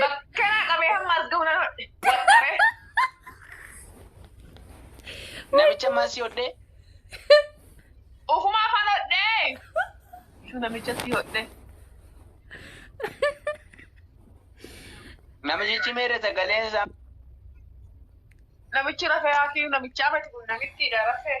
Bakkanaa qabee hamma as gahu nan hodhe. Waxxaree. Namicha ammaa si hodhee. Ufumaa fan hodhee. Ishuu namicha si hodhee. Namichi meere sagaleen isaa. Namichi rafee haakii namichaa mati kun namittiidha rafee.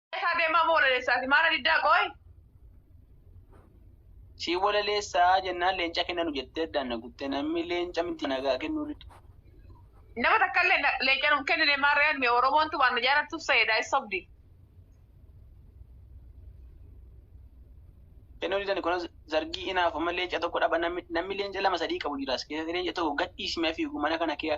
Isaa deemaa moo walaleessaati? Maana diddaa qooy? Si walaleessaa jennaan leenca kenna nu jettee addaan na guttee namni leenca miti nagaa kennuu dide. Nama takka illee na- leenca nuuf kennine maarreen mee Oromoon tumaan na jaalattuuf sayeedha is sobdi. Kennuu didani kunis zargii inaaf amma leenca tokko dhaba namni namni leenca lama sadii qabu jiraas keessatti leenca tokko gadhiisimee fiigu mana kana kee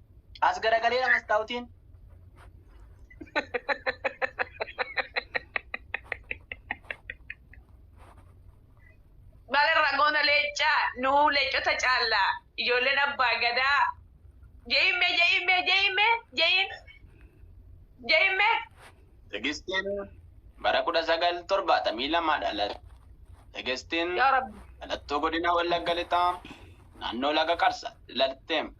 As garagalee amas taa'utiin. Baga ragoota leencaa nuu leencota caallaa ijoolleen abbaa gadaa je'imme je'imme je'imme je'in je'imme Tegistiin bara kudha sagal torbaatamii lama dhalate. Tegistiin yaa rabbi dhalattuu godina Wallagga Lixaa naannoo Laga Qarsa dhalatte.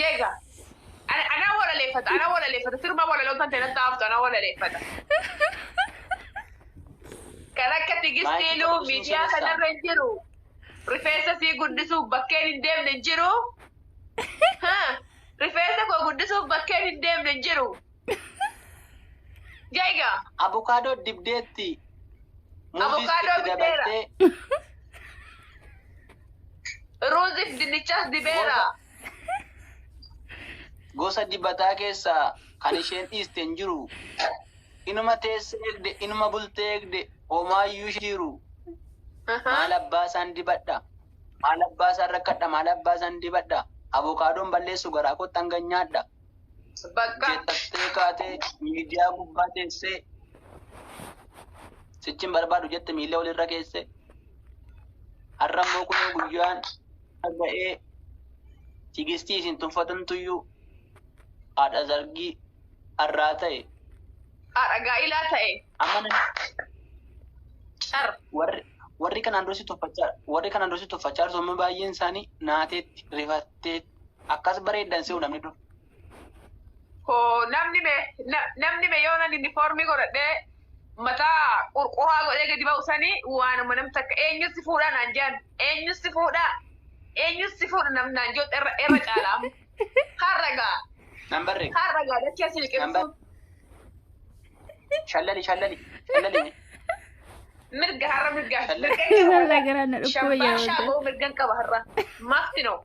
Jeega. Ana ana walaleeffata, ana walaleeffata. Sirba walaloo kan ta'e natti haaftu, ana walaleeffata. Kan akka tigistii luu miidiyaa kanarra hin jiru. Rifeensa sii guddisuuf bakkeen hin deemne hin jiru. Ha, Rifeensa koo guddisuuf bakkeen hin deemne hin jiru. Jaiga. Abokaadoo dibdeetti. Abokaadoo Muuzis itti bideera. dabaltee. Ruuzif dinnichas dibeera. Gosa dibataa keessaa kan isheen dhiiste hin jiru. Inuma teessee eegde, inuma bultee eegde, homaayyuu ishee jiru. Maal abbaa isaan dibadha? Maal abbaa isaan rakkadha? Maal abbaa isaan dibadha? Abokaadoon balleessu garaa kootti hanga nyaadha. Bakka. Jettattee kaatee miidiyaa gubbaa teessee sichin barbaadu jette miila walirra keesse. Har'a immoo kunoo guyyaan ga'ee tigistii isin tuffatantuyyuu haadha zargii har'aa ta'e. Haadha gaa'ilaa ta'e. Amma nan- Car. warri warri kanaan dursi tuffachaa warri kanaan dursi tuffachaa turtan baay'een isaanii naateetti rifatteetti. Akkas bareeddan si'u namni dur. Hoo namni me na- namni me yoo nan uniformii godhadhee mataa qurquraa godhee gadi ba'u sanii waanuma namni takka eenyus si fuudhaa naan jedhan eenyus si fuudhaa eenyus si fuudha nam naan jedhu irra irra caalaa har'a gaa Nan barre. har'a gaa dachee si Nan barre. liqimsuun Shallali shallali shallali mee. mirga har'a mirga Shallal. mirga Walaa garaan na dhukkuba Shambaashaa jedhama. ga'u mirgan qaba har'a. Mafti noo.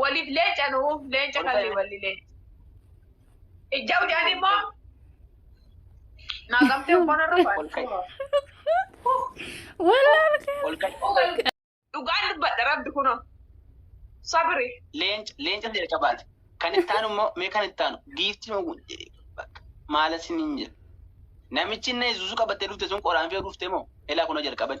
Waliif leenca nuu leenca kalli walli leenca. Ijja hojaan immoo naa qabtee uffata irra faayya. Wallaan Dhugaan dubbadha rabbi kunoo. Sabri. Leenca leenca ta'e qabaate. Kan itti aanu immoo mee kan itti aanu giiftiin oguun jedhee bakka maala siniin jedha. Namichi inni yesuusu qabattee dhufte sun qoraan fe'u dhufte moo elaa kunoo jalqabani.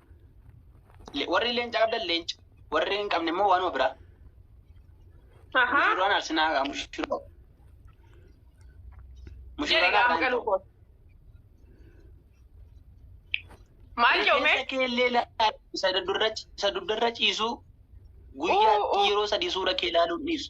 Le- Warri leenca qabdan leenca. Warri hin qabne immoo waanuma biraa. Ahaa. Mushuraan arsinaa haa mushuroo. Jedhe Mushuraan gaama har'aan galuu ta'u. koo. Maal jedhu mee? Rifeensa kee illee ilaali. Isa dudurra- isa dudurra ciisuu guyyaatti Uu, uu. yeroo sadii suura kee ilaaluun dhiisu.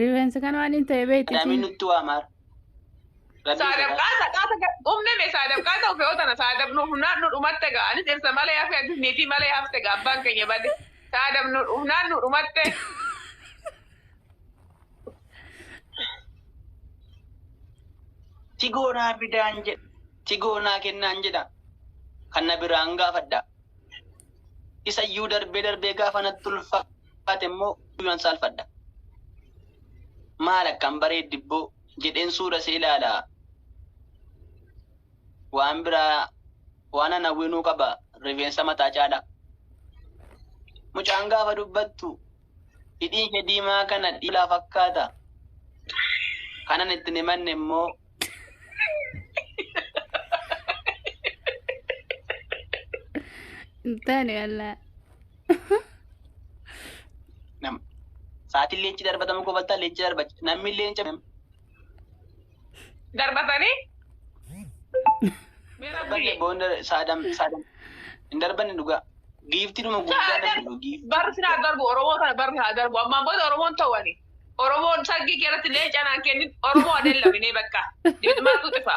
Rifeensi kan waan hin ta'e beekti Adaamiin isiin. nutti waa maara. Rabbii Saadab sodaadha. qaata qaata ga- umne me saadab qaata ofee otana saadab nu humnaan nu dhumatte ga ani dhirsa malee hafe ati niitii malee hafte ga abbaan keenya bade saadab nu humnaan nu dhumatte Tigoo naa fidaan jedha. Tigoo naa kennaan jedha. Kan na biraan gaafadha. Isa iyyuu darbee darbee gaafa natti ulfa. baate immoo guyyuman saalfadha. Maal akkam bareeddibboo jedheen suura see ilaala. Waan biraa waanan hawwinuu qaba rifeensa mataa caalaa. Mucaan gaafa dubbattu hidhiin ishee diimaa kana dhiilaa fakkaata. Kanan ittiin himanne immoo Taane walaa. Nam- Sa'aatiin leenci darbatamu kofaltaa leenci darba namni leenca Darbatanii. Mee rabbi. darbanne boonda saadam saadam hin darbanne dhugaa giifti dhuma guddaa Saadam. namni dhugu giifti. Barri sin haa darbu Oromoo kana barri haa darbu ammaan booda Oromoon ta'ani. Oromoon sargii keessatti leenca naan kennin Oromoo adeellaminee bakka. Dibidmaatu xifa.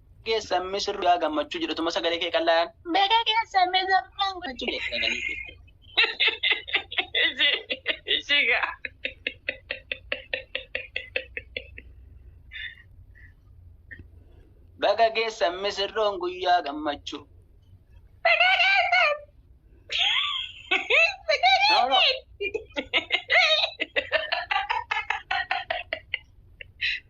geessan misirroo yaa gammachuu jedhutuma sagalee kee qallaan baga geessan misirroo gammachuu jedhe sagalee kee. Ishii ishii gaa. Baga geessan misirroon guyyaa gammachuu. No, no.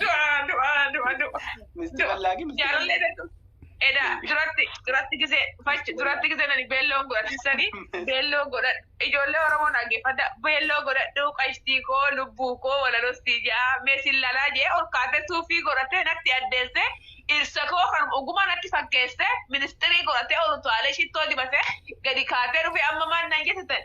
Du'a du'a du'a du'a. Misti Du'a. bal'aa gi misti Jaalallee bal'aa. dadhu. Edaa duratti duratti gisee fachi duratti gisee nani beelloo godhatisanii beelloo godhadhu. Ijoollee Oromoo dhaggeeffadha beelloo godhadhu qashtii koo lubbuu koo walalostii jaa meesin lalaa jee ol kaatee suufii godhatee natti addeessee dhirsa koo kan oguma natti fakkeessee ministirii godhatee ol utaalee shittoo dibatee gadi kaatee dhufee amma maal nan jettetan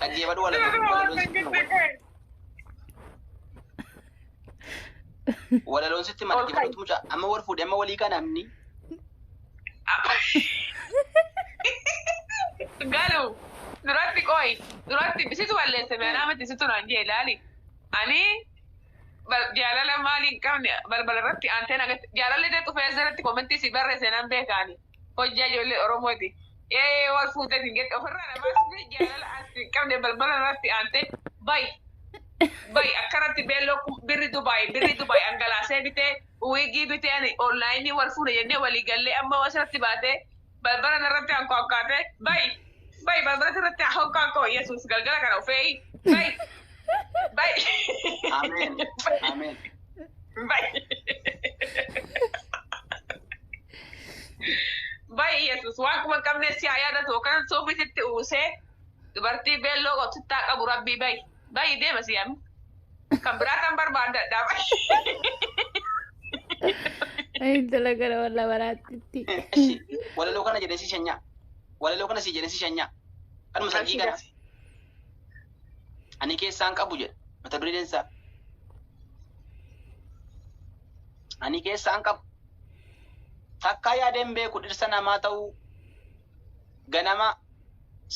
Dhaggeeffadhu walaloo walaloon sitti hima. Walaloon sitti hima dhaggeeffadhutu mucaa amma wal fuudhe amma walii kana amni. Galu duratti qoy duratti situ balleesse meeraa miti situ naan jee ilaali. Ani bal- jaalala maali hin qabne balbala irratti aanteen agarsiisa. Jaalalli dee dhufee asirratti komentii si barreesse nan beekaani. Hojjaa ijoollee Oromooti. Ee wal fuutee hin gette ofirraa na baasisee jaalala ati qabde balbala irratti aantee bayi. Bayi akkanatti beelloo kun birri Dubaay birri Dubaay angalaasee bitee wiigii bitee ani onlaayinii wal fuune jennee walii gallee amma asirratti baatee balbala irratti aankoo akkaatee bayi. Bayi balbalatti irratti aankoo akkoo Yesuus galgala kana ufee bayi. Ameen. Ameen. Baay'ee Yesuus waan kuma hin qabne si haa yaadatu yookaan suufii sitti uwwisee dubartii beelloo qottittaa qabu rabbii bayi. Bayi deema si yaami. Kan biraa kan barbaadadhaa bayi. Intala gara walla baraatti. Eshi walaloo kana jedhee si shanyaa. Walaloo kana si jedhee si shanyaa. Kanuma sargii kana. Ani keessaan qabu jedha mata dureen isaa. Ani keessaan qabu. Takkaa yaadeen beeku dhirsa namaa ta'uu ganama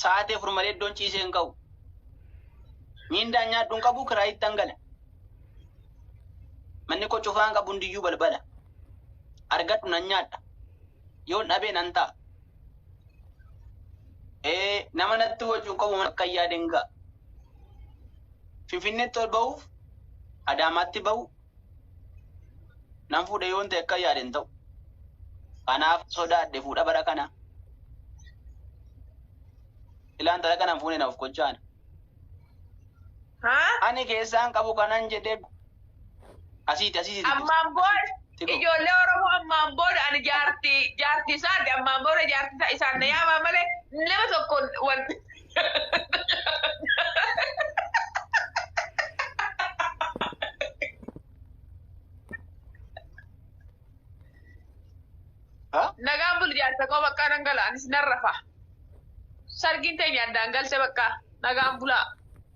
sa'aatii afur malee iddoon ciisee hin ka'u. Miindaan nyaadhu hin qabu kiraa ittan gala. Manni koo cufaan qabu hundiyyuu balbala. Argadhu nan nyaadha. yoon dhabee nan ta'a. Ee, nama natti wajjin qabu mana akka yaadeen ga'a. Finfinneetti ol ba'uuf Adaamaatti ba'u nan fuudhe yoon ta'e akka yaadeen ta'u. Kanaaf sodaadhe fuudha bara kana. Ilaa intala kana hin fuune na of kochaana. Haa? Ani keessaan qabu kanan jedhee asiiti asiiti xiqqoo. Ammaan booda Xiqqoo. ijoollee Oromoo ammaan booda ani jaartii jaartii isaati ammaan booda jaartii isaa isaan na yaamaa malee nama tokkoon wal Haa? nagaan buli jaarsa koo baqqaa nan gala anis nan rafa. Sargiin teenya addaan galte bakka nagaan bulaa.